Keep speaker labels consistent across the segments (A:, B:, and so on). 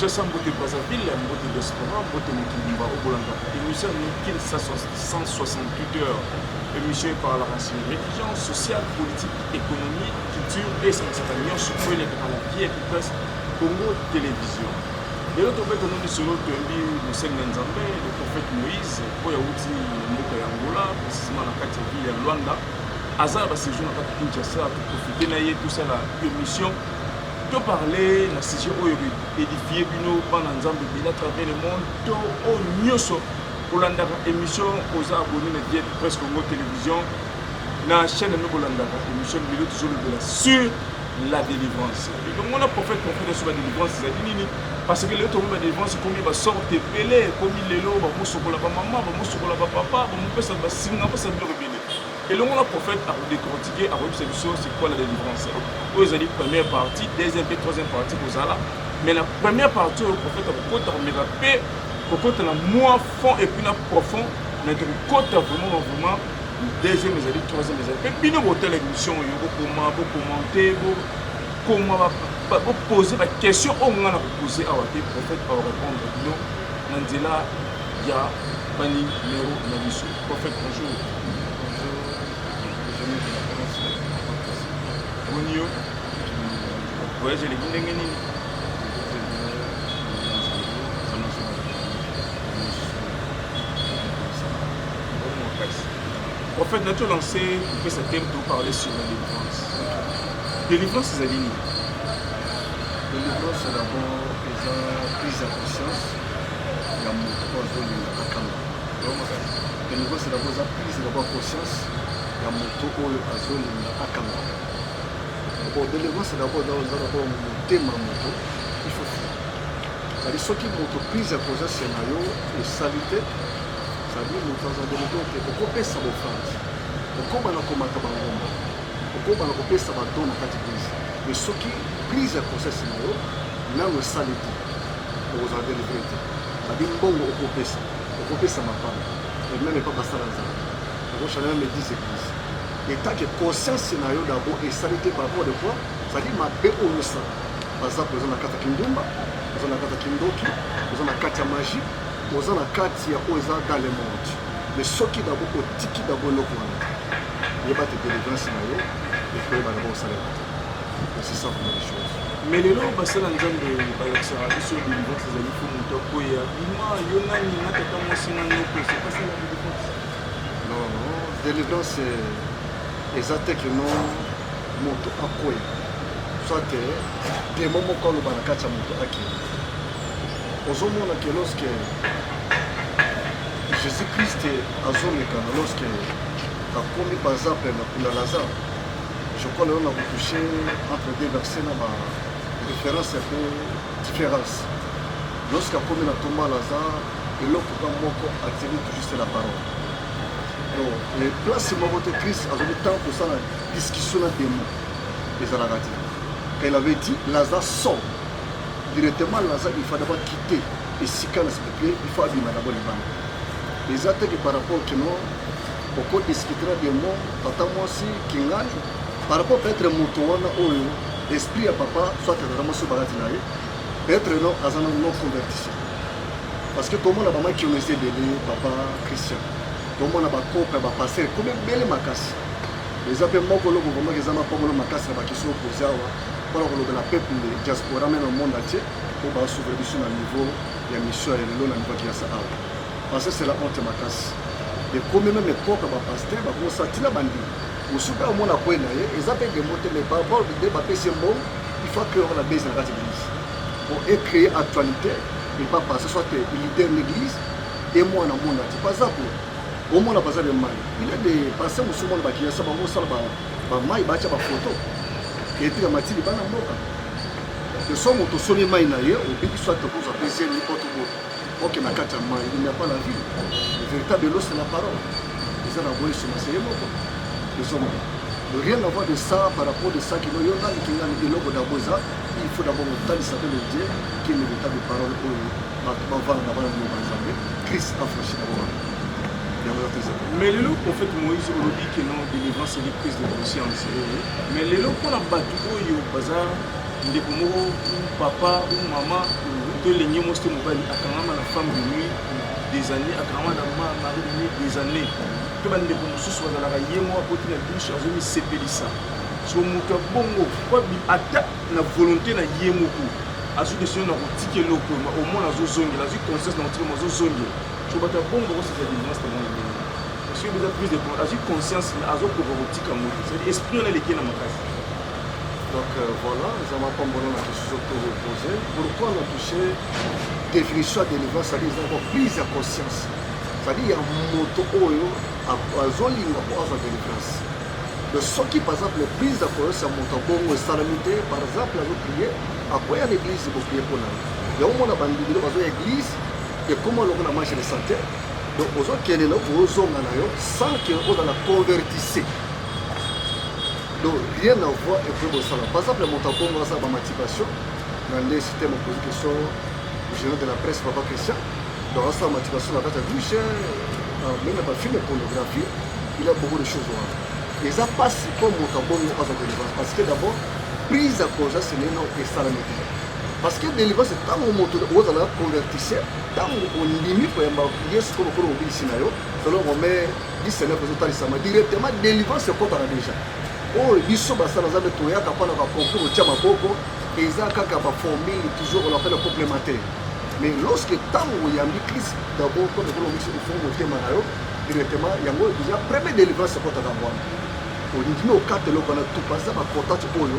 A: kinshasa
B: mbote brazzaville ya mbote diaspora mbote mokili mba okolanda émission ya mokili 168 heures émission eparlaka sur religion sociale politique Economie, culture mpe esangisaka nyonso oyo elekaka na vie ya kiplasi Congo Television. Lelo tobeta no lisolo toyambi mosali na Nzambe le prophète Moïse oyo awuti na mboka ya Angola precisement na kati ya ville ya Luanda aza na basejour na kati Kinshasa toprofite na ye tosala émission to parle na sujet oyo edifie bino bana Nzambe bila travers le monde to oyo nyonso kolandaka émission oza abonné na DF Presse Congo Télévision na chaîne no bolandaka émission lelo tozolobela sur la délivrance elongo na prophète prophète aso ba délivrance ezali nini parce que lelo tokomi ba délivrance ekomi basorte ebele ekomi lelo bamosokola bamama bamosokola bapapa bamopesa basinga basa biloko ebele elongo na prophète akodecortike akoyebisa biso c'est quoi la délivrance oyo ezali première partie deuxième mpe troisième partie kozala mais na première partie oyo prophète akokota komeka mpe kokota na mwa fond epuis na profond mais tokokota vraiment vraiment deuxième ezali troisième ezali mpe bino botala émission oyo bokoma bokomante bokoma bopose baquestion oyo ngai nakopose awa te prophète aorépondre bino na nzela ya balingi numero na biso prophète bonjour omoni yo voyage eleki ndenge nini En fait, nato lancé kopesa thème to parler sur la délivrance. Délivrance ezali nini? Délivrance
C: d'abord eza prise ya conscience ya moto oyo azolinga akanga. Délivrance d'abord eza prise ya conscience ya moto oyo azolinga akanga. Bon, délivrance d'abord eza d'abord motema moto il faut faire. Ezali soki moto prise ya conscience na yo esali te Fabie moto aza demiko te okopesa bofranci okobana komata bangomba okobana kopesa bato na kati prise me soki prise ya conscience na yo nano esali te okozala delivre te babi mbongo okopesa okopesa mapanga ememe epa basala nzala okoshana meme dise prise etake conscience na yo dabo esali te par rapport de quoi ezali mabe oyo osala baza koza na kati ya kindumba oza na kati ya kindoki oza na kati ya magie oza na kati ya oyo eza dans le monde mais soki dabo otiki dabo eloko wana yeba te délivrance na yo ekoyeba dabo osalema te c'est ça vraiment les choses mais lelo basala
B: nzambe balakisaka biso délivrance ezali fo moto akoya bima yo nani na tata mwasi na noko sepasala délivrance non
C: non délivrance eza te que non moto akoya soit demo moko aloba na kati ya moto akende ozomona ke loske jésus christ azolekana loske akomi baza mpe na kuna lazare je crois lelo na kotouche entre deux verset na ba référence mpe différence loske akomi na tomba lazare eloko ka moko atiri toujours se la parole donc place moko te christ azoki ntango kosala discussion na demo ezalaka te il avait dit lazare sort directement naza il fallait ba quitter esika na s'il plaît il faut abima na boni bana eza te que par rapport que non oko discutera de moi tata mwasi kingani par rapport peut-être moto wana oyo esprit ya papa soit tata mwasi balati na ye peut-être non aza na non convertition parce que tomona bama kionese ebele papa christian tomona bakope bapasere komi ebele makasi eza mpe moko loko vraimen eza mapambolo makasi na bakisi okozi awa mpona kolobela peuple de diaspora meme na monde entier mpo basouvre biso na niveau ya mission ya lelo na niveau kiasa awa parce que c'est la honte makasi ekomi meme propre bapaster bakosa tina bandimi mosusu mpe omona kwe na ye eza mpe dembo te mais barbol nde bapesi ye mbongo il faut créer na base na kati église po ecréer actualité epa passe soit leader na église e mwana mona ti baza ko omona baza de mali il est de passe mosusu mona bakiyasa bango osala bango ba mai batya bafoto etika matili bana mboka de somo tosoli mai na ye obiki soit tokozwa mpe zemi mpo tobota oke na kati ya mai il n'y a pas la vie le véritable elos c'est la parole eza na boye soma seye moko esomo rien à voir de ça par rapport de ça kino yo nani kingani eloko dabo eza il faut d'abord otalisa mpe le dieu qui est le véritable parole oyo bato bavanda bana mboka nzambe christ afrashi na bango
B: mais lelo prophète moïse olobi ke non délivrance eli prise de conscience mais lelo mpona bato oyo baza ndeko moko papa ou mama to elenge mwasi to mobali akangama na femme de nuit des années akangama na mari de nuit des années mpe bandeko mosusu bazalaka ye moko akoti na dushe azomisepelisa so moto ya bongo ata na volonté na ye moko azwi desino na kotika eloko omona azozongela azwi conscience na kotika mo azozongela so bato ya bongo bakosala delivrance na mwana ndenge parce que eza prise de compte azwi conscience mais azokoka kotika moto cest esprit wana eleki na makasi donc
C: euh, voilà eza mapambola na question to repose pourquoi na touche définition ya délivrance cetadi eza ko prise ya conscience cetadi ya moto oyo azolinga mpo azwa délivrance donc soki par exemple prise ya conscience ya moto abongo esalami te par exemple azoprie akoya na église boprie mpo na ye yango mona bandimilo bazoya église ekoma lokola marche de santé donc ozokende na ozonga na yo sans que oza na convertise donc rien à voir ekoki kosala par exemple moto abongo asala bamancipation na nde système oposi question général de la presse papa christian donc asala mancipation na kati ya douche euh, meme na bafilme pornographie il a beaucoup de choses wana eza mpasi mpo moto abongo aza koelevance parce que d'abord prise ya conscience neno esalami te parce que délivrance ntango moto ozala na convertise ntango ondimi koyamba yesu mpo lokola mobikisi na yo selon rome 19 ezotalisama directement délivrance ekotaka déjà oyo biso basala nzambe toyaka mpo na bakoncour otya maboko eza kaka baformule toujours on appelle complémentaire mais lorsque ntango oyambi krist dabord mpo lokola mobikisi ofongi motema na yo directement yango déjà premier délivrance ekotaka mwana olingimi okata eloko wana tupaza bacontate oyo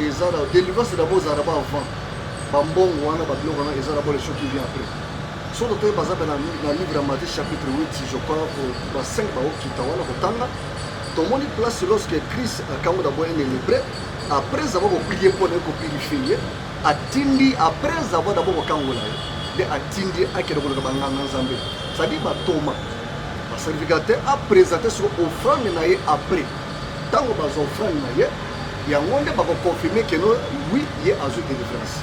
C: eza na delivrance d'abord ezala ba avant ba mbongo wana ba biloko wana eza d'abord les choses qui vient après soki totoyi baza mpe na livre ya Matthieu chapitre 8 je crois ba 5 bakokita wana kotanga tomoni place lorsque Christ akambo d'abord un hébreu après avoir koplie mpo naye kopurifie ye atindi après avoir d'abord kokangola ye nde atindi akende koluka banganga nzambe cestadire batoma baservicateur apresente soko offrande na ye après Tango baza offrande na ye, yango nde bako confirmer que no oui ye azwi delivrance.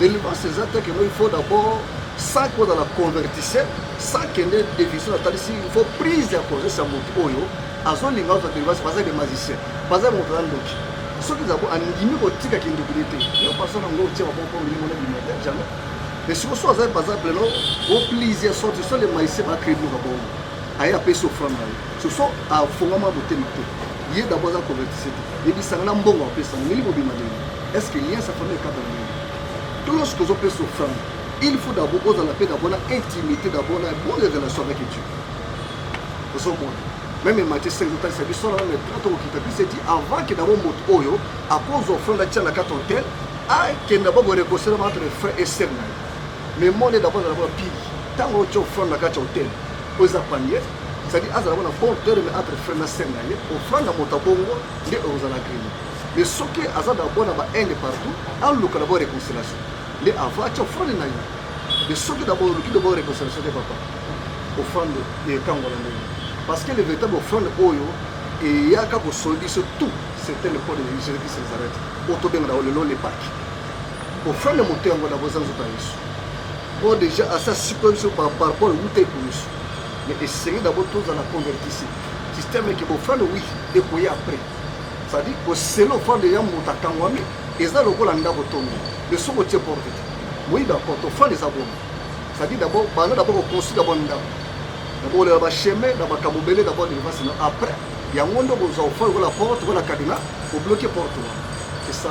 C: Delivrance eza te que no il faut d'abord sans que ozala convertisse, sans kende devision atalisi, il faut prise ya conscience ya moto oyo azolinga ozwa delivrance, baza des magiciens, baza moto na ndoki. Soki zabo andimi kotika kindoki ne te, yo personne yango otie maboko mpo milimo na bima te, jamais. Mais sikoyo soki aza baza pleno, o please sorti, so le magicien ba créer biloko bongo. aye apesi ofrande na ye soso afongama motema te ye dabo aza convertise te yebisanga na mbongo apesa ndenge kobima ndenge est ce que lien sa famille ekata ndenge to lorsque ozopesa ofrande il faut dabo ozala mpe dabo na intimité dabo na bonne relation avec dieu ozomona meme mati se ezotalisa biso na meme tra tokokita biso eti avant ke dabo moto oyo akozwa ofrande atya na kati hotel akenda bakorekosela entre frère et sœur na ye mais monde est d'accord d'abord pire tango tu offrande la carte hôtel oza panier c'est-à-dire azala wana bon cœur mais entre frère na sœur na ye offrande na moto bongo nde ozala grille mais soki aza d'abord na ba haine partout aluka d'abord réconciliation nde avant atia offrande na ye mais soki d'abord oluki d'abord réconciliation te papa offrande ekangola ndenge parce que le véritable offrande oyo eyaka kosoli biso tout c'est un le code de Jésus-Christ Nazareth oyo tobengana lelo le Pâques Ofele moto yango na boza nzoto ya Yesu. Bon deja asa sikoyo biso par rapport wuta eko Yesu. Mais esengi d'abord tozala convertisi. Système eke bofele oui ekoya après. C'est-à-dire kosela ofele ya moto akangwami eza lokola ndako tongi. Mais soki otie porte te. Oui d'accord tofele eza bongo. C'est-à-dire d'abord banda d'abord koconstruire d'abord ndako. D'abord olela ba chemin na makambo ebele d'abord devance na après yango nde okozwa ofele lokola porte lokola cadenas obloquer porte wana. C'est ça.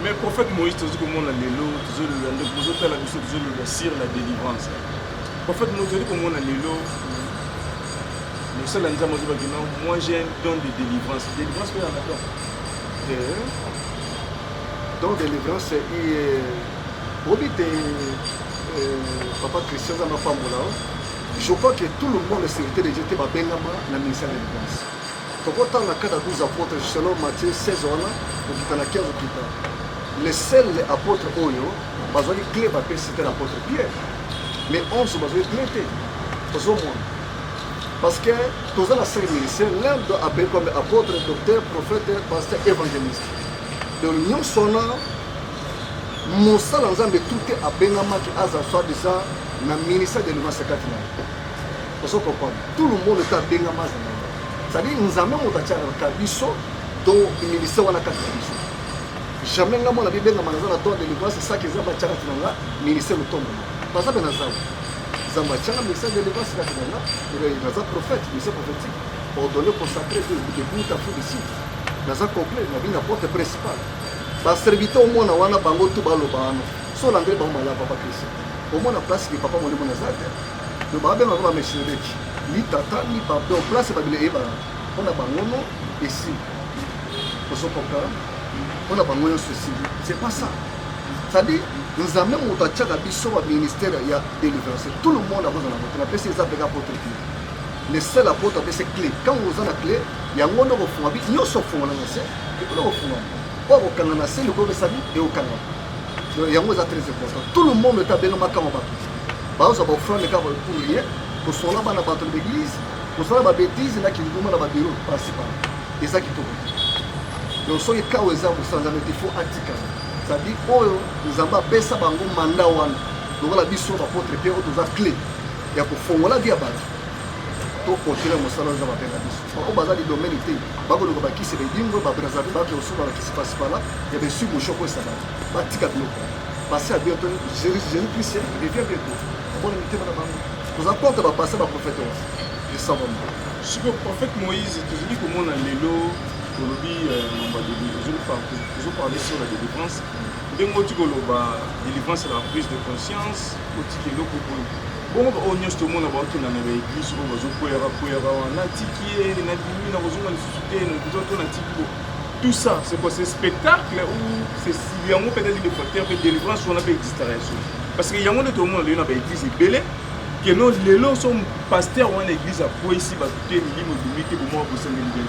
C: mais prophète moïse
B: tozi komona lelo tozoloba nde bozotala biso tozoloba sur la délivrance prophète moïse tozali komona lelo mosala nzambe azobaki non moi j'ai un don de délivrance délivrance mpe yanga don
C: don délivrance oyebi te papa christian nzambe apambola je crois que tout le monde sécurité de dieu te babengama na ministère de délivrance tokotanga kaka 12 apôtre selon Matthieu 16 wana kokita na 15 okita le seul apôtre oyo bazwaki cle bapesi te na apôtre pierre mais 11 bazwaki cle te ozomona parce que toza na cercle ministère l'un doit appeler comme apôtre docteur prophète pasteur évangéliste donc nyonso wana mosala nzambe tout te abengamaki aza soit disant na ministère de levance kati na ye ozo comprendre tout le monde ta benga maza na yo c'est-à-dire nzambe moto atiaka biso to ministère wana kati na biso jamais nga mwana bibengama naza na tord délivrance esaki eza batiaka tina nga ministère motombo baza mpe na zamba zamba atiaka ministère délivrance kati na nga naza prophète ministère prophétique ordonné consacré debout à fou de site naza complet na bino na porte principale baservite omona wana bango tu baloba wana solangele bango malaba bakristo omona place ke papa molimo naza te Donc ba benga ba meseleki ni tata ni papa donc place ba bile eba pona bangono esi ozo comprendre pona bango yo ceci c'est pas ça c'est-à-dire nzambe moto atiaka biso ba ministère ya délivrance tout le monde akoza na moto na pesi eza peka potre clé le seul apotre apesi clé quand oza na clé yango nde okofunga bi nyonso ofungola na se ekoki kofunga oyo akokanga na se likobesami ekokanga yango eza très important tout le monde ete abengama kama bato baoza ba offrande kaka pour rien kosola bana bato na baeglise kosala babetise na kinduma na babiro principal eza kitoko donc soki kawa eza kosala nzambe te fo atikala cetadi oyo nzambe apesa bango manda wana lokola biso bapotre mpe oyo toza cle ya kofongola vi ya bato tokontinue mosala oyo eza mabe na biso baoyo baza lidomene te bakoluka bakisi baedingo babrazavi baoke kosuba bakisi pasipala ya besu moshoko esala batika biloko Passé à bientôt, Jésus-Christ revient bientôt. Bon, on était là-bas. Nous avons compte à passer à prophète. Je sens vraiment. Ce que
B: prophète Moïse, tu dis que mon allélo, olobi euh, mamba de toujours parler sur la délivrance. Ndenge oti koloba délivrance la prise de conscience, oti keloko boye. Bongo ba oyo nyonso tomona baokenda na baeglise oyo bazokweyaka kweyaka wana natiki ye nabimi nakozonga lisusu te nakozwa to natiki boye tout ça c'est quoi c'est spectacle ou c'est yango peut-être il faut terme délivrance wana pe distraction parce que yango nde tomona lelo na ba église ebele que non lelo so pasteur wana église akweyisi bato te milimo ebimi te bomoko bosali mbele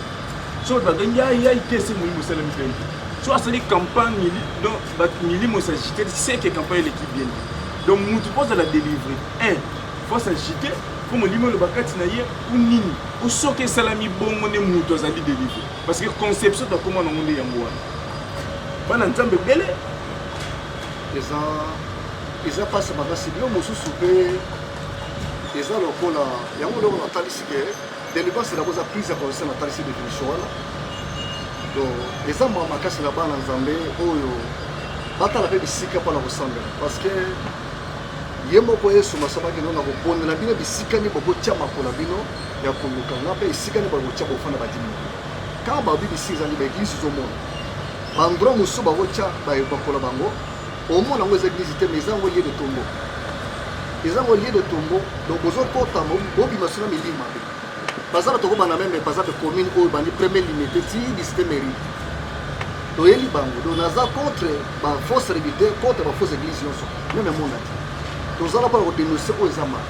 B: so bato bakangi yayai te se molimo osali mbele so asali campagne donc bato milimo esagite seke campagne eleki bien donc motu mpo ozala délivre un fo asagite mpo molimo eloba kati na ye ou nini osoki esalami bongo nde moto azali délivre Parce que conception ta koma nango nde yango wana. Bana Nzambe bele eza
C: eza pasi makasi bino mosusu mpe eza lokola yango eloko natalisi ke délivrance elako eza prise ya conscience natalisi définition wana donc eza mwa makasi na bana nzambe oyo batala mpe bisika mpo na kosambela parce que ye moko yesu masomaki no na kobondela bino bisika nini bokotia makolo bino ya koluka nga mpe esika nde bakotya kofanda badimi na bino kaka babibisi ezali baeglise ezomona bandro mosusu bakotya bakola bango omona yango eza eglise te ma eza yango lie de tombo eza yango lie de tombo donc bozokota bobima suna milimo mabe baza bato kobanda meme baza mpe commune oyo bandi premier limite ti lisite mairie toyeli bango donc naza contre bafausse revité contre bafausse église nyonso meme emonaki tozala mpona kodenonse oyo eza maka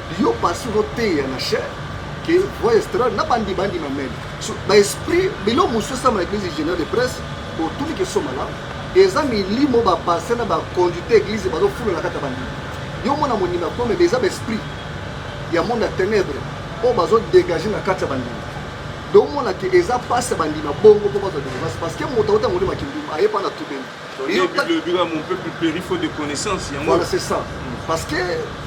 C: Yo pasteur oteya na chair que voix estrade na bandi bandi ma meme so, ba esprit bilo musu sama na église générale de presse otuni ke so malamu eza milimo ba pasteur na ba conduite église bazo fula na kata bandi yo mona monima ko mais eza ba esprit ya monde ya ténèbres oyo bazo dégage na kati ya bandimi donc omonake eza mpasi ya bandima bongo mpo bazwa délivrance parce que moto auta molimo ya kindumba aye mpa na tubeli Yo ta- Bible ebika
B: mon peuple périt faute de connaissance yango. Voilà, c'est ça.
C: Parce que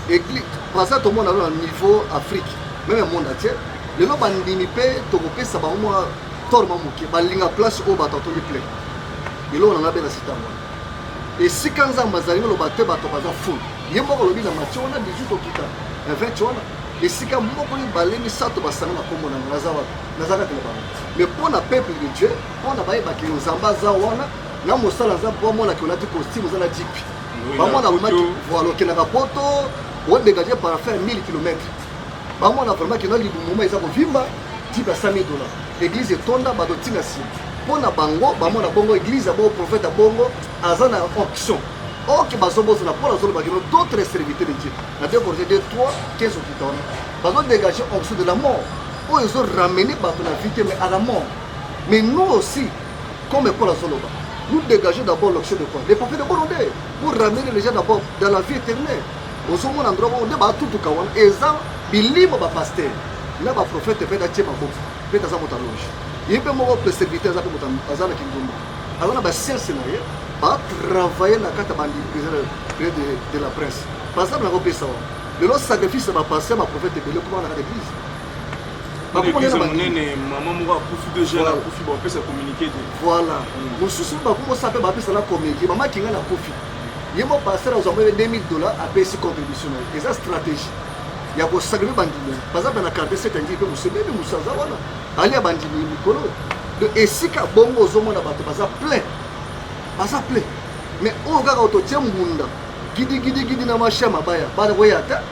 C: église, Brazza tout le monde a un niveau Afrique, même le monde entier. Les gens bandimi pe tokopé ça ba moi tort ma muke ba linga place au bato to plein. Et là on a bien la cité moi. Et si quand ça m'a zali le bato bato baza fou. Ye moko lobi na match on a 18 okita. Un 20 tu vois. Et si quand moko ni balemi ça to ba sanga na kombo na ngaza wa. Nazaka te ba. Mais pour na peuple de Dieu, Bana bayebaki yo Nzambe aza wana na mosala aza bwa mwana ke olati costume oza na jipi bamwana wemaki voile okendaka poto odegage parafin 1000 km bamwana vraiment kenda libumuma eza kovimba jipi ya 5000 dollars eglise etonda bato ntina nsima mpo na bango bamona bongo eglise ya bongo profete ya bongo aza na onction oke bazobosana mpo nazolobaki no d'autres serviteur de dieu na deux corge de 3 15 okita wana bazodegage onction de la mort oyo ezoramene bato na vie te mais à la mort Mais nous aussi, comme Paul Azoloba, nous dégageons d'abord l'option de quoi Les papiers de Bolondais, pour ramener les gens d'abord dans la vie éternelle. ozomona ndro bongo nde batutuka wana eza bilimo bapaster na baprofete mpe natie maboki mpe taza moto aloge ye mpe moko preserviteur aza mpe moto aza na kindumba aza na basiense na ye batravaille na kati ya bandiprise de la presse par exemple nakopesa wana lelo sacrifice ya bapaster baprofete ebele ekoma na kati ya eglise Eglise monene
B: mama moko akufi deux jeunes akufi bapesa communiqué te. Voilà. Mm. Mosusu
C: bakomosa mpe bapesa na communiqué mama kinga na kufi ye mo pasteur azwa mpe 2000 dollars apesi contribution na ye eza stratégie ya kosakrife bandimi baza mpe na quartier sete ndii mpe mosebebe mosusu aza wana ali ya bandimi mikolo do esika bongo ozomona bato baza plein baza plein mais oyo kaka ototie mbunda gidigidigidi na mashia mabaya bana koya ata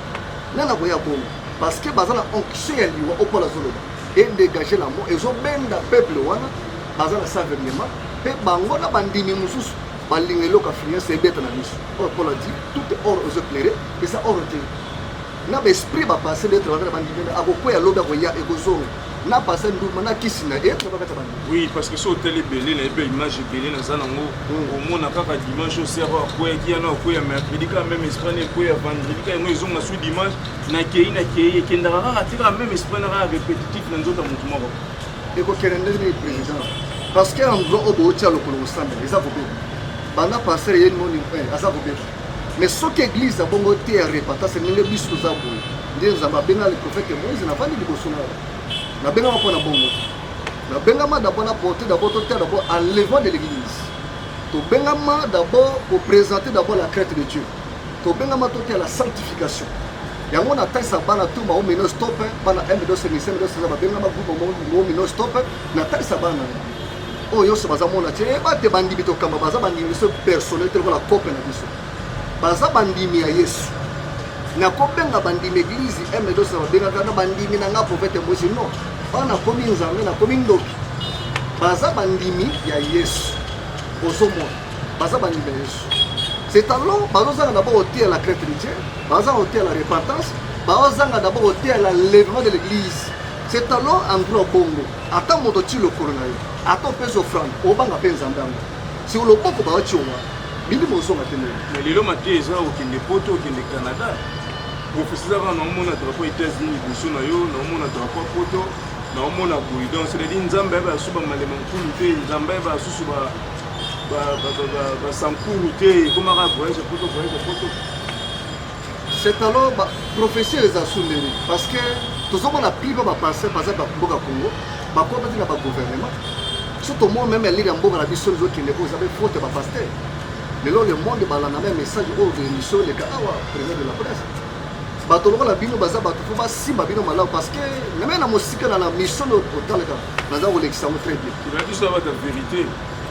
C: nana koya bongo Parce que baza na onction ya liwa okola zoloba et dégager la mort ezo benda peuple wana baza na savernement pe bango na bandimi mususu balinga eloko affluence ebeta na biso oyo Paul adi tout est or ezo éclaire eza or te na baesprit bapasse d'être wana na bandimi akokweya lobi akoya ekozonga na pase nduma na kisi na ye na bakata bana oui parce que so otali
B: ebele na ye mpe image ebele naza nango hmm. omona kaka dimanche osero akweyaki yana okweya mercredi kaka meme esprit na ekweya vendredi kaka yango ezonga su dimanche nakeyi nakeyi ekendaka kaka atikaka meme esprit na kaka repetitif na nzoto ya motu moko ekokende ndenge
C: nini président parce que endroit oyo bootia lokolo kosambela eza kobeba banda pasteur ye moni eh, aza kobeba mais soki église ya bongo te ya repentance ndenge biso toza boye nde nzambe abenga le prophète moïse navandi liboso na nabengama mpo na bongo nabengama d'abord na porte d'abord totia d'abord enlèvement de l'église tobengama d'abord koprésente d'abord la crête de dieu tobengama toteya la sanctification yango na talisa bana tu mao mino stop bana mdo senise mdo senise babengama groupe mao mino stop na talisa bana oyo nyonso baza mona te eh, bate bandimi tokamba baza bandimi biso personnel te lokola kope na biso baza bandimi ya yesu nakobenga bandimi eglize mdo senise babengaka na bandimi na nga profete mosi non oyo nakomi nzambe nakomi ndoki baza bandimi ya yesu ozomona baza bandimi ya yesu c'est alors bazozanga na bango oteya la crête de dieu bazanga oteya la repentance bazanga na bango oteya la levement de l'église c'est alors en droit bongo ata moto ti lokolo na yo ata opesi ofrande obanga mpe nzambe yango si oloboko baotia wana milimo ozonga te na lelo mateya eza
B: okende poto okende canada profesi ezaka naomona drapo états-unis liboso na yo naomona drapo ya poto naomona boye donc c'est-à-dire nzambe ayeba lisusu bamalema nkulu te nzambe ayeba lisusu basankuru te ekomaka voyage poto voyage poto
C: c'est alors baprofesseur eza sundeli parce que tozomona pliba bapasse baza bamboka congo bakobaki na bagouvernement so tomona meme elire ya mboka na biso ezokende oyo eza be faute ya bapaster lelo le monde balanda meme message oyo émission eleka awa président de la presse bato lokola bino baza bato mpo basimba bino malamu parce que meme na mosika na na mission oyo otalaka baza kolekisa yango très bien biso na bato ya verité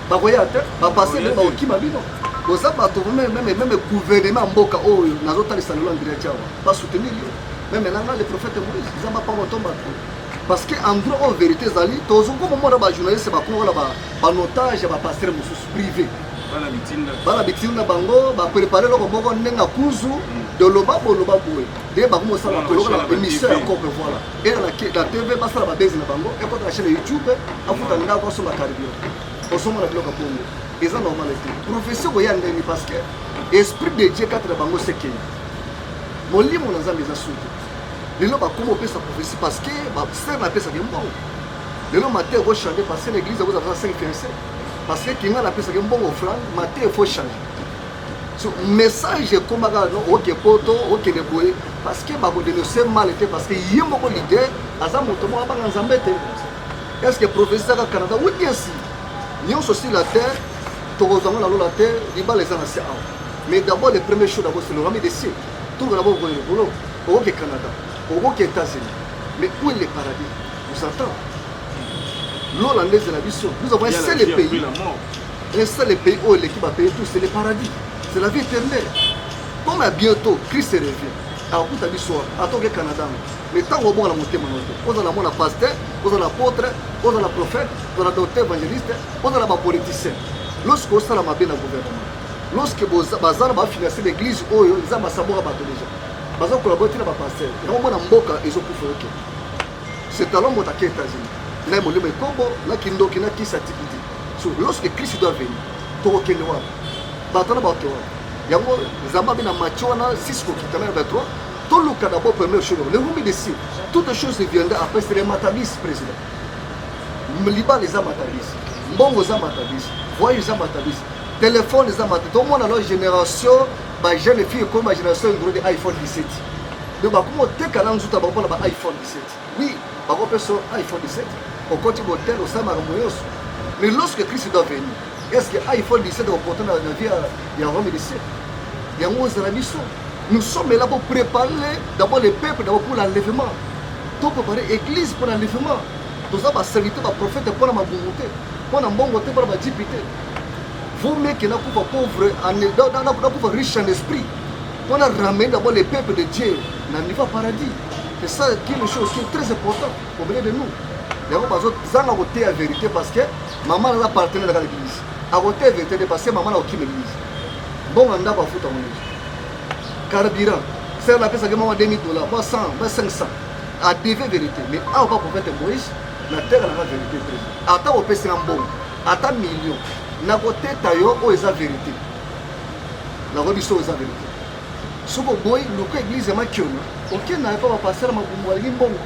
B: bakoya te
C: bapase nde bakokima bino boza bato meme gouvernement ya mboka oyo nazotalisa lelo andrea tiawa basoutenir yo meme nanga le prophète moïse eza bapango to bato parce que endroit oyo verité ezali tozokoma mona bajournaliste bakongola banotage ya bapastere mosusu privé bana bitini na bango baprepare eloko moko ndenge akuzu hmm. doloba boloba boye nde bakomosala kolokola émission ya cope voilà era na tv basala babezi na bango ekota na chaine ya youtube afuta ndako asomba cardio osomba na biloko ya kongo eza normal te profession koya ndenge parce que esprit de dieu kati na bango sekei molimo na nzambe eza suki lelo bakoma opesa profesi parce que basere napesaki mbongo lelo mate eko change parce que na église akozala 5 fiancé parce que kinga napesaki mbongo flan mate efo change message ekomaka no oke poto okende boye parce que bakodenonse mal te parce que ye moko leader aza moto moko abanga nzambe te est ce que prophétie ezaka canada oui bien si nyonso si la terre tokozwa ngo na lola te libala eza na se awa mais d'abord le premier chose d'abord c'est le rami de si tokoka na bokokende libolo okoke canada okoke états-unis mais où est le paradis vous entend lola nde ezela biso nous avons un seul pays Un seul pays oyo eleki ba pays tous c'est le paradis. C'est la vie éternelle. Comme à bientôt Christ revient. akokuta biso wana atoke canada ngo mais ntango obonga na motema na te ozala mwana pasteur ozala apotre ozala prophète ozala docteur évangéliste ozala bapoliticien lorsque osala mabe na gouvernement lorsque baza na bafinance l'église oyo eza basaboka bato deja baza kolabo ti na bapasteur yango mona mboka ezokufa oke c'est talon motakei états-unis na molimo ekombo na kindoki na kisa tikiti so lorsque christ doit venir tokokende wana bato wana baoke wana yango nzambe abe na matio wana sisi kokitana ya badroit toluka d'abord première chose le humi de sir toute chose viendra après c'est le matabis président libala eza matabis mbongo eza matabis voye eza matabis telefone eza matabis tomona lo génération bajeune fille ekoma génération enduro de iphone 17 donc bakoma oteka na nzuta bango mpona ba iphone 17 Oui, bako peso iPhone 17. Okoti botel osala makambo nyonso. Mais lorsque Christ doit venir, est-ce que iPhone 17 okoporte na vie ya Rome 17? Yango ozala biso. Nous sommes là pour préparer d'abord les peuples d'abord pour l'enlèvement. To préparer église pour l'enlèvement. Toza ba serviteur ba prophète pour na mabungu te, pour na mbongo te, pour na jipi te. Vous mec na kufa pauvre en na kufa riche en esprit. Pour na ramener d'abord les peuples de Dieu na niveau paradis. C'est ça qui nous chose qui est très important auprès de nous. yango bazozanga koteya verité parce que mama naza partenaire na kaka l'église akoteya verité nde parce que mama na kokima église mbongo na ndako afuta yango nyonso carburant sere napesaki mama 2000 dollars ba 100 ba 500 adeve verité mais awa kaka profete moïse nateka nanga verité te ata kopesi na mbongo ata million nakoteta yo oyo eza verité nakoyebi so eza verité soki oboyi luka eglise ya makiono okenda na epa bapastere makumbu balingi mbongo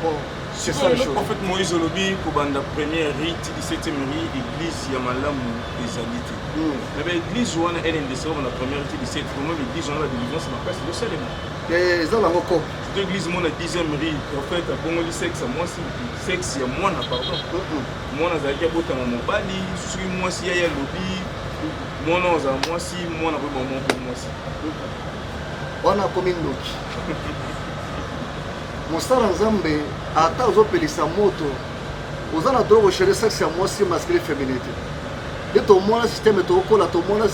C: bon c'est ça le chose prophète moïse olobi
B: kobanda première ri ti 17e ri église ya malamu ezali te hmm. na baeglise wana lndc wana première ti 17 vraiment baeglise wana badelivrance makasi ezosalema eh, eza nango
C: ko to église mona
B: 10e ri prophète abongoli sexe ya mwasi sexe ya mwana pardon hmm, hmm. mwana azalaki abotama mobali soki mwasi yaye alobi mwana oza mwasi mwana koyeba mwa mpo mwasi
C: wana akomi ndoki mosala nzambe ata ozopelisa moto oza na droit kochange sexe ya mwasi masculin féminin te nde tomona systeme tokola tomona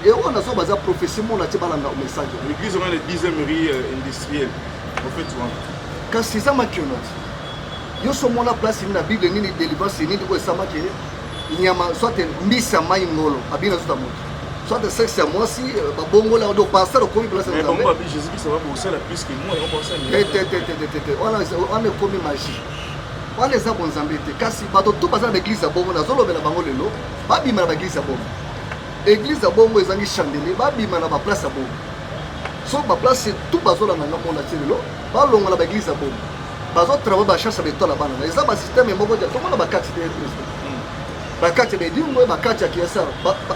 C: yango nazo baza prophétie mona ti balanda message l'église wana le 10e rue
B: euh, industriel prophète wana kasi eza
C: makionati yo so omona place nini na bible nini délivrance nini oyo esamaki nyama soit mbisi ya mai ngolo abi nazuta moto soit sexe ya mwasi euh, babongola do pasteur okomi place ya
B: nzambe wana ekomi
C: magie wana eza bonzambe te kasi bato to baza na baeglize ya bongo nazolobela bango lelo babima na baeglize ya bongo eglize ya bongo ezangi chandelier babima na baplace ya bongo so ba place tout bazolanda nga mona ti lelo balongola ba eglise ya bomo bazotrava bacharge ya betala bana na eza basysteme moko ja tomona bakati te kristo bakati ya bedingo bakati ya kiasar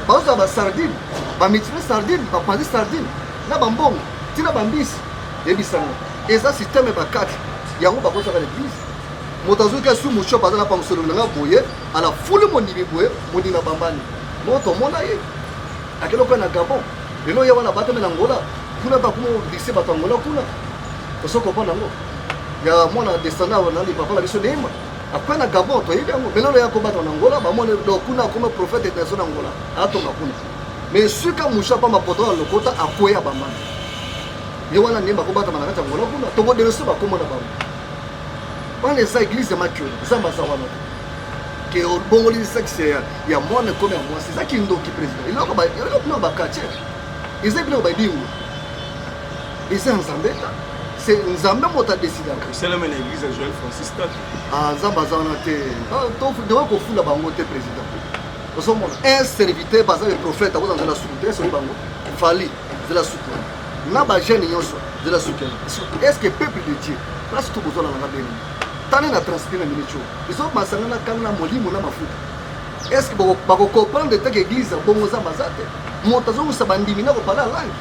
C: bazozala basardine bamitime sardine bapanzi sardine na bambongo ntina bambisi yebisanga eza systeme bakati yango bakotaka na eglise moto azoki asui moshop aza na pamusolo nanga boye ala fuli mondimi boye mondimi abambani moto omona ye akenda okoya na gabon lelo ye wana abatami na ngola kuna bakuma oblikise bato ya ngola kuna oso kopona yango ya mwana descendant na lipapa na biso neima akoya na gabon toyebi yango me lelo ya kobatama na ngola bamoni do kuna akoma prophète naso na ngola atonga kuna me suka musha pamba poto ya lokota akoya bamana ye wana neima akobatama na kati ya ngola kuna tokodelese bakomona bango wana eza eglise ya makio nzambe aza wana te ke obongoli sexe ya, ya mwana ekomi ya mwasi eza kindoki président eloko bino bakatie eza ebino badingo eza ya nzambe ta se nzambe moto adesidaka esalama na église ya joel
B: francis tatu ah, nzambe aza wana
C: te ah, tokoki kofula bango te président ozomona un serviteur baza le prophète akozala nzela suku te soki bango fali nzela suku na bajeune nyonso nzela suku est ce que peuple de dieu place tokozwa na nanga beni tane na transpire na minute oyo Biso masanga na kanga na molimo na mafuta. Est-ce que bako bako comprendre que église bongo za mazate? Moto azo usa bandimi na ko parler langue.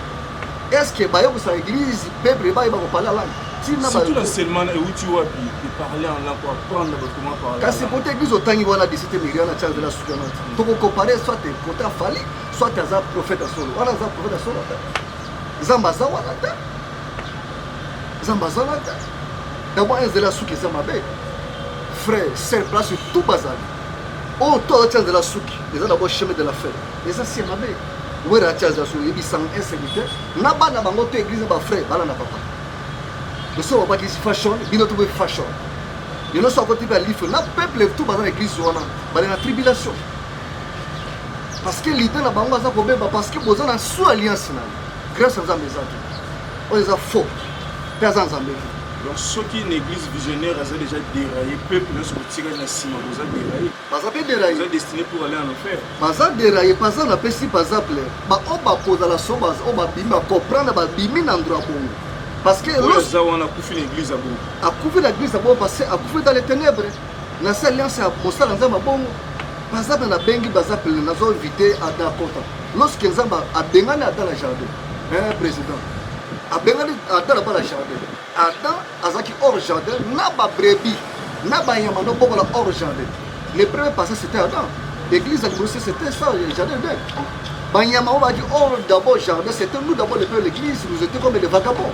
C: Est-ce que bayo kusa église peuple bayo bako parler langue? Tina
B: ba Surtout l'enseignement na euti wapi de parler en langue, apprendre bato comment parler. kasi poto église otangi
C: wana disite million na charge de la soutenance toko comparer soit poto afali soit aza prophète ya solo wana aza prophète ya solo te nzambe aza wana te nzambe azalaka dabord enzela ya suki eza mabe frère sel place tout bazali oyo oh, to atia nzela suki eza dabord chemin de la fin eza si ya mabe wera atia nzela suki oyebisanga insécurité na bana bango to église ba frère bana na papa biso babaki fashion bino tobe fashion lelo so akoti mpe alife na peuple tout baza na église wana bale na tribulation parce que lide na bango aza kobeba parce que boza na sous alliance na ye grâce ya nzambe eza te oyo eza faux mpe aza nzambe te donc soki
B: na église visionnaire aza déjà déraillé peuple nyonso kotikali na nsima boza déraillé baza mpe déraillé
C: destiné pour aller en
B: enfer baza déraillé
C: baza na pesi baza ple baoyo bakozala so oyo babimi bacomprendre babimi na ndro ya bongo parce que eza wana akufi
B: na église ya bongo akufi na église ya
C: bongo parce que akufi dans les ténèbres na se alliance ya mosala nzambe ya bongo baza na nabengi baza pele nazo invite ada akota lorsque nzambe abengani ada na jardin eh, président abengani ada naba na jardin ada azalaki hors jardin na babrebi na banyama nobokola hors jardin le premier passage c'était ada église ya liboso c'était ça jardin de banyama oyo baki hors d'abord jardin c'était nous d'abord le premier l'église nous était comme les vagabonds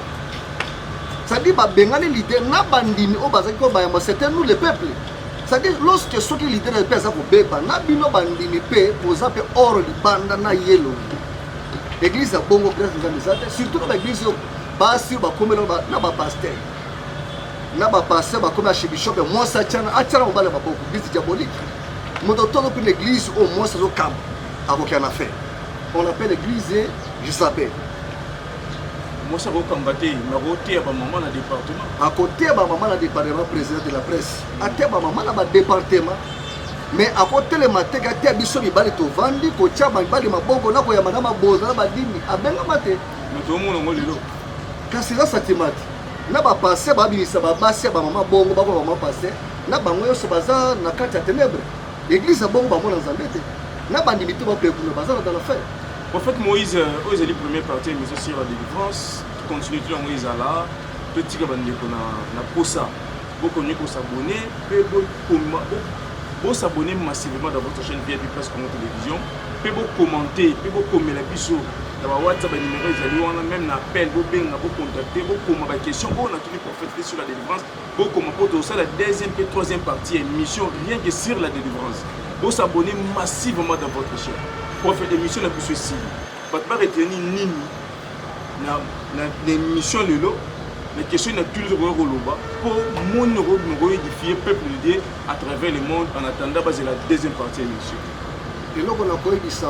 C: c'est-à-dire babengani lide na bandimi oyo bazalaki oyo bayamba c'était nous le peuple cetadire lorsque soki leader na yo mpe aza kobeba na bino bandimi mpe boza mpe or libanda na yelo eglise ya bongo grâce nzambe eza te surtout na baeglise oyo basi oyo bakomela na bapaster na bapaster bakomi archibishop ya mwasi atyana atyana mobali ya maboko eglise diabolique moto tolo mpe na eglise oyo mwasi azokamba akokya na fin on appelle eglise jezabel
B: mwasi akokanga te nakoteya bamama na département akoteya bamama
C: na département président de la presse ateya bamama na badepartement mais akotelema te kateya biso mibali tovandi kotya mibali maboko na koyamba na maboza na badini abengama te tomona ngo lelo
B: kasi eza
C: satimati na bapaster babimisa babasi ya bamama bongo bako bamama paster na bango nyonso baza na kati ya tenebre eglize ya bongo bamona nzambe te na bandimi te bapekuna baza na dala fere Prophète Moïse,
B: euh, oyo ezali premier partie ya émission sur la délivrance. Continue tout yango ezala totika bandeko na na posa bokomi kosabone mpe bokoma bosabone massivement dans votre chaîne vip presse congo télévision mpe bokommente mpe bokomela biso na ba whatsapp banimero ezali wana meme na appel bobenga bocontacte bokoma baquestion oyo natuni prophète te sur la délivrance bokoma mpo tozosala deuxième mpe troisième partie ya émission rien que sur la délivrance bosabone massivement dans votre chaîne prophète émission na biso esili bato baretenir nini na, na, na émission lelo na question na tuli tokoki koloba mpo moni okobima koedifie peuple de dieu à travers le monde en attendant bazela deuxième partie ya émission eloko na
C: koyebisa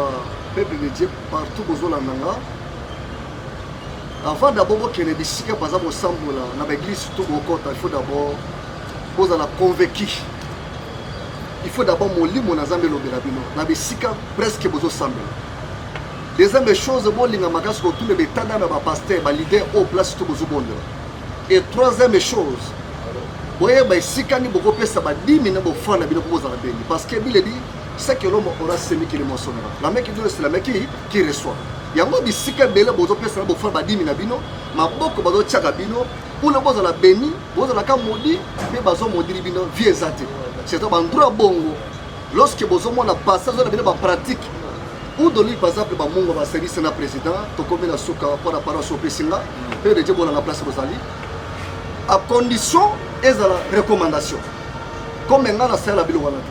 C: peuple de dieu partout bozolanda nga Avant d'abord bokende bisika baza kosambola na ba église surtout bokota, il faut d'abord bozala convaincu. Il faut d'abord molimo na Nzambe elobela bino na bisika presque bozosambela. Deuxième des choses, bolinga makasi kotuna betanda na ba pasteur, ba leader au place tout bozobondela. Et troisième des choses, boyeba esika nini bokopesa badimi na bofana bino mpo bozala bengi parce que bile dit ce que l'homme aura semi kili mosonaka la main qui donne c'est la main qui, qui reçoit yango bisika ebele bozopesa na bofana badimi na bino maboko bazotyaka bino mpona bozala beni bozalaka modi mpe bazomodili bino vie eza te surtout bandroit bongo lorsque bozomona pasi azola bino bapratique udoli par exemple bamongo baservice na président tokomi na suka mpo na paroisse opesi nga mpe deje bolanga place bozali a condition ezala recommandation comme ngai nasalela biloko wana te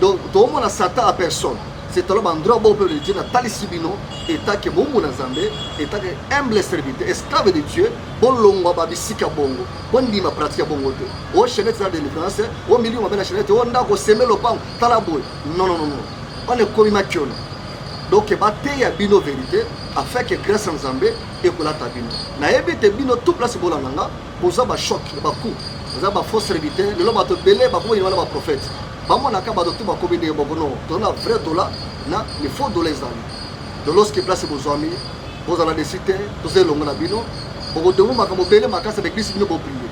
C: donc tokomona satan a personne c'est alors bandroit bo peuple de dieu natalisi bino etake bombu na nzambe etake humble serviteur esclave de dieu bolongwa babisika bongo bondima pratique ya bongo te o oh, chainete eza delivrance o oh, milio mabe na chainete o oh, ndako oseme lopango tala boye nonnonono wana ekomi makiona donc bateya bino verité afin que grâce ya nzambe ekolata bino nayebi te bino tout place bolanda nga boza ba choc ya ba coup boza ba fausse serviteur lelo bato ebele bakomi wana ba prophète bamonaka bato tu bakomi ndenge moko no toza na vrai dola na le faux dola ezali de lorsque place bozwami bozala desi te toza elongo na bino bokotomo makambo bele makasi baeglise bino boprie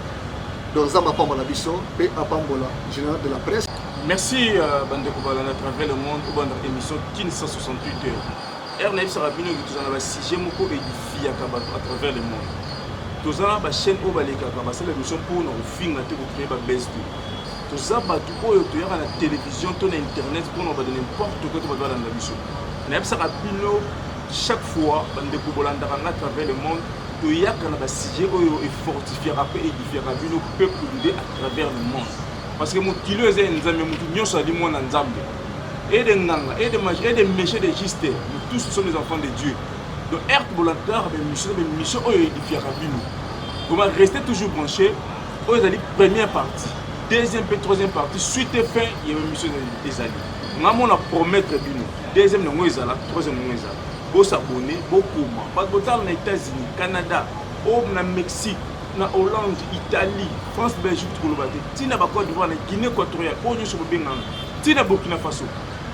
C: donc nzambe apambola biso mpe apambola général de la presse merci euh,
B: bandeko balanda travers le monde obanda émission kin 168 heures Heure nayebisaka bino ke toza na basujet moko edifiyaka bato à travers le monde toza na bachaîne oyo balekaka basala émission mpo na kofinga te kocree babese te toza bato oyo toyaka na télévision to na internet mpo na bada n'importe quoi to bato balanda biso nayebisaka bino chaque fois bandeko bolandaka nga travers le monde toyaka na basujet oyo efortifiaka mpe edifiaka bino peuple de à travers le monde parce que mokili oyo eza ya nzambe motu nyonso ali mwana nzambe et des nganga et des mages et des méchants des justes nous tous nous sommes des enfants de Dieu donc heure tobolataka bamission bamission oyo edifiaka bino vraiment restez toujours branché oyo ezali première partie deuxième mpe troisième partie suite et fin ya bamission ezali nga mona promettre bino deuxième yango ezala troisième yango ezala bosabone bokoma bato botala na états-unis canada o na mexique na hollande italie france belgique tokoloba te ntina bacote divoir na guinée équatoriale oyo nyonso bobengana Ti na Burkina Faso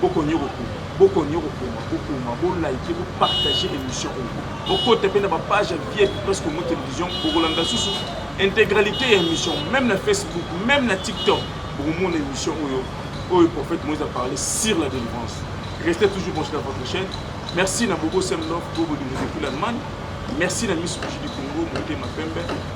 B: bokonyo kokoma bokonyo kokoma kokoma bo like bo partager émission oyo bokota pe na ba page ya vie plus Congo télévision bokolanda susu intégralité ya émission même na Facebook même na TikTok bokomona émission oyo oyo prophète Moïse a parlé sur la délivrance restez toujours branchés dans votre chaîne merci na bobo semlof bobo de depuis l'Allemagne merci na miss du Congo motema pembe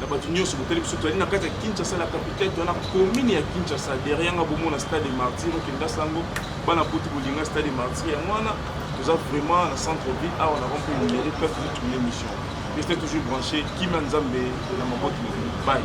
B: na bato nyonso botali biso tozali na kati ya kinshasa la capitale toza na commune ya kinshasa derrière yanga bomona stade de martyr okenda sango bana boti bolinga stade de martyr yango wana toza vraiment na centre ville awa na rompe numeri peuple toza tourne émission reste toujours branché kimia nzambe na maboti na bino bye